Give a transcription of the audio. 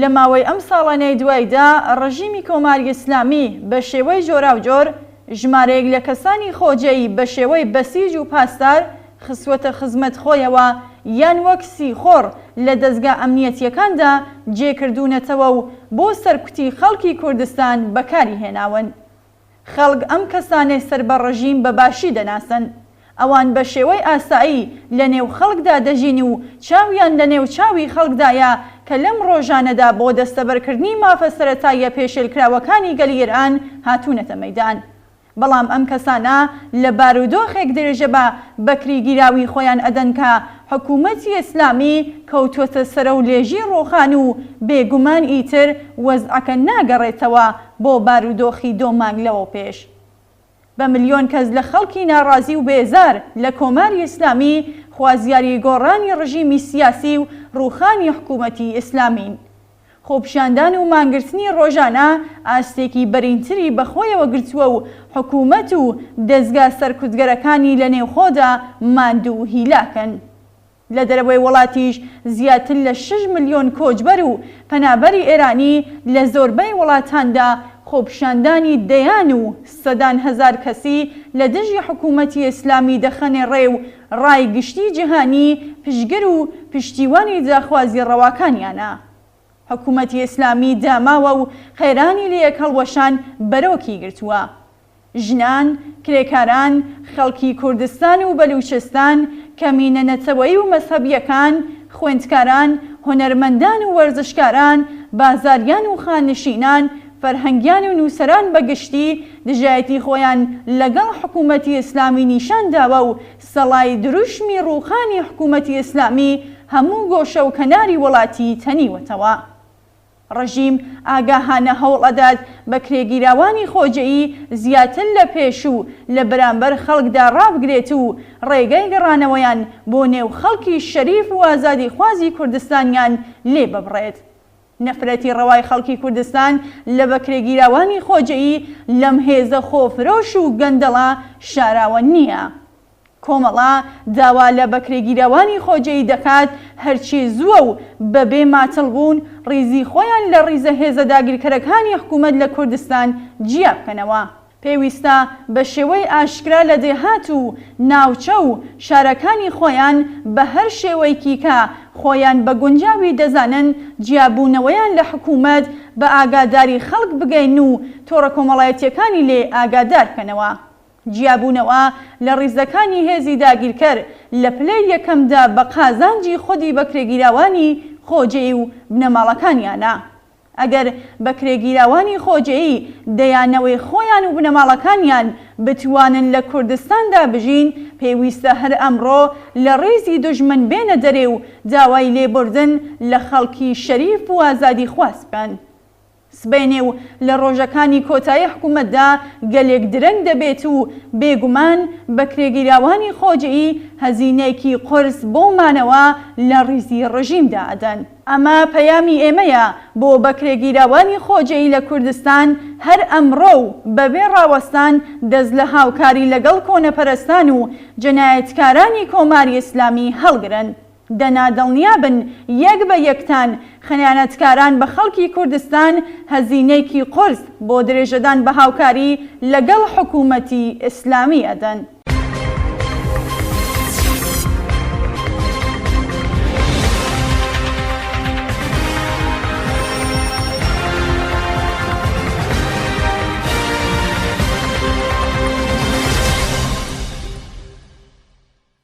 لە ماوەی ئەم ساڵانەی دوایدا ڕژیمی کۆماری ئیسلامی بە شێوەی جۆراوجۆر ژمارەیەک لە کەسانی خۆجێی بە شێوەی بەسیج و پاسدار خستووەتە خزمەت خۆیەوە یان وەک سیخۆڕ لە دەزگا ئەمنیەتییەکاندا جێکردوونەتەوە و بۆ سەرکوتی خەڵکی کوردستان بەکاری هێناون. خەڵک ئەم کەسانەی سەر بە ڕژیم بە باشی دەناسن. ئەوان بە شێوەی ئاسایی لە نێو خەڵکدا دەژین و چاویان لە نێو چاوی خەڵکدایە کە لەم ڕۆژانەدا بۆ دەستەبەرکردنی مافە سەرەتاییە پێشێلکراوەکانی گەلی ئێران هاتوونەتە مەیدان. بەڵام ئەم کەسانە لە بارودۆخێک درێژە بە بەکریگیراوی خۆیان ئەدەن کە حکوومەتی ئیسلامی کەوتووەتە سەرەو لێژی ڕۆخان و بێ گومان ئیتر وەزعەکە ناگەڕێتەوە بۆ بارودۆخی دۆ مانگ لەوەوپێش بە ملیۆن کەس لە خەڵکی ناڕازی و بێزار لە کۆماری ئیسلامی خوازیاری گۆڕانی ڕژیمی سیاسی و ڕووخانی حکوومەتی ئیسلامین. خۆپیشاندان و مانگرتنی ڕۆژانە ئاستێکی بەرینتری بە خۆیەوە گرتووە و حکوومەت و دەزگا سەرکوتگەرەکانی لە نێوخۆدا ماندوو و هیلاکن. لە دەرەوەی وڵاتیش زیاتر لە شەش ملیۆن کۆچبەر و پەنابەری ئێرانی لە زۆربەی وڵاتاندا خۆپیشاندانی دەیان و سەدان هەزار کەسی لە دژی حکوومەتی ئێسلامی دەخەنێ ڕێ و ڕای گشتیی جیهانی پشتگر و پشتیوانی داخوازی ڕەواکانیانە. حکوومەتی ئێسلامی داماوە و قەیرانی لە یەک هەڵوەشان بەرۆکی گرتووە. ژنان، کرێکاران، خەڵکی کوردستان و بەلووچستان، کەمینە نەتەوەیی و مەزهەبییەکان، خوێندکاران، هونەرمەندان و وەرزشکاران، بازاریان و خانشینان، فەرهەنگیان و نووسەران بە گشتی دژایەتی خۆیان لەگەڵ حکوومەتی ئیسلامی نیشان داوە و سەڵای دروشمی ڕووخانی حکوومەتی ئیسلامی هەموو گۆشە و کەناری وڵاتی تەنیوەتەوە. ڕژیم ئاگاهانە هەوڵ ئەدات بەکرێگیراوانی خۆجێی زیاتر لە پێشوو لە بەرامبەر خەڵکدا ڕابگرێت و ڕێگای گەڕانەوەیان بۆ نێو خەڵکی شەریف و ئازادیخوازی کوردستانیان لێ ببڕێت. نەفرەتی ڕەوای خەڵکی کوردستان لە بەکرێگیراوانی خۆجێی لەم هێزە خۆفرۆش و گەندەڵە شاراوە نییە. کۆمەڵە داوا لە بەکرێگیراوانی خۆجێی دەکات هەرچی زووە و بەبێ ماتڵ بوون ڕیزی خۆیان لە ڕیزە هێزە داگیرکەرەکانی حکوومەت لە کوردستان جیا بکەنەوە. پێویستە بە شێوەی ئاشکرا لە دێهات و ناوچە و شارەکانی خۆیان بە هەر شێوەیکی کە خۆیان بە گونجاوی دەزانن جیا بوونەوەیان لە حکوومەت بە ئاگاداری خەڵک بگەیەنن و تۆڕە کۆمەڵایەتییەکانی لێ ئاگادار بکەنەوە. جیابوونەوە لە ڕیزەکانی هێزی داگیرکەر لە پلەی یەکەمدا بە قازانجی خودی بەکرێگیراوانی خۆجێی و بنەماڵەکانیانە. ئەگەر بەکرێگیراوانی خۆجێی دەیان نەوەی خۆیان و بنەماڵەکانیان بتوانن لە کوردستاندا بژین، پێویستە هەر ئەمڕۆ لە ڕیزی دوژمن بێنە دەرێ و داوای لێبوردن لە خەڵکی شەریف و ئازادیخواز بکەن. سبەینێ و لە ڕۆژەکانی کۆتایی حکوومەتدا گەلێک درەنگ دەبێت و بێگومان بەکرێگیراوانی خۆجێی هەزینەیەکی قورس بۆ مانەوە لە ڕیزی ڕژیمدا ئەدەن. ئەمە پەیامی ئێمەیە بۆ بەکرێگیراوانی خۆجێی لە کوردستان هەر ئەمڕۆ و بەبێ ڕاوەستان دەست لە هاوکاری لەگەڵ کۆنەپەرستان و جەنایەتکارانی کۆماری ئیسلامی هەڵگرن. دەنا دڵنیابن یەک بە یەکتان خنیانەتکاران بە خەڵکی کوردستان هەزینەیکی قورس بۆ درێژەدان بە هاوکاری لە گەڵ حکوومەتی ئیسلامی ئەدەن.